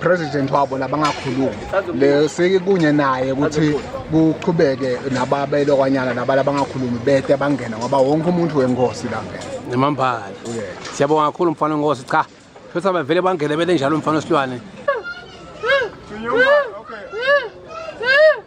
president wabo labangakhulumi lesike kunye naye ukuthi kuqhubeke nababelo kwanyana nabala abangakhulumi bete bangena ngoba wonke umuntu wengosi la ngena nemambala siyabonga kakhulu mfana ngosi cha futhi abavele bangene bele njalo mfana osilwane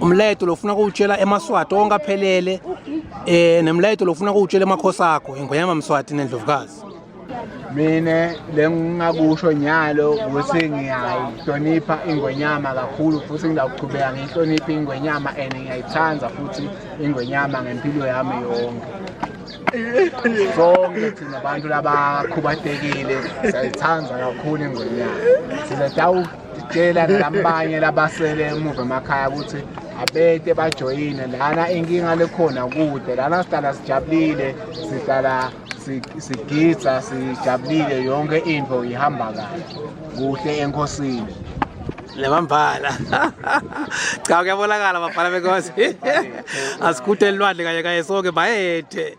umlayeto lofuna kuwutshela emaswati onke aphelele um nemlayeto lofuna kuwutshela emakhosi akho ingonyama mswati nendlovukazi mina lengingakusho nyalo ukuthi ngiyayihlonipha ingwenyama kakhulu futhi ngizawuqhubeka ngiyihloniphe ingwenyama and ngiyayithanda futhi ingwenyama ngempilo yami yonke sonke thina bantu labakhubatekile siyayithanda kakhulu ingwenyama sizadawuka Ngicela nabanye labasele emuva emakhaya ukuthi abete bajoyine lana inkinga lekhona kude lana sihlala sijabulile sihlala sigidza sijabulile yonke into ihamba kahle kuhle enkosini lebambhala cha kuyabonakala bafana benkosi asikhude elwandle kanye kanye sonke bayethe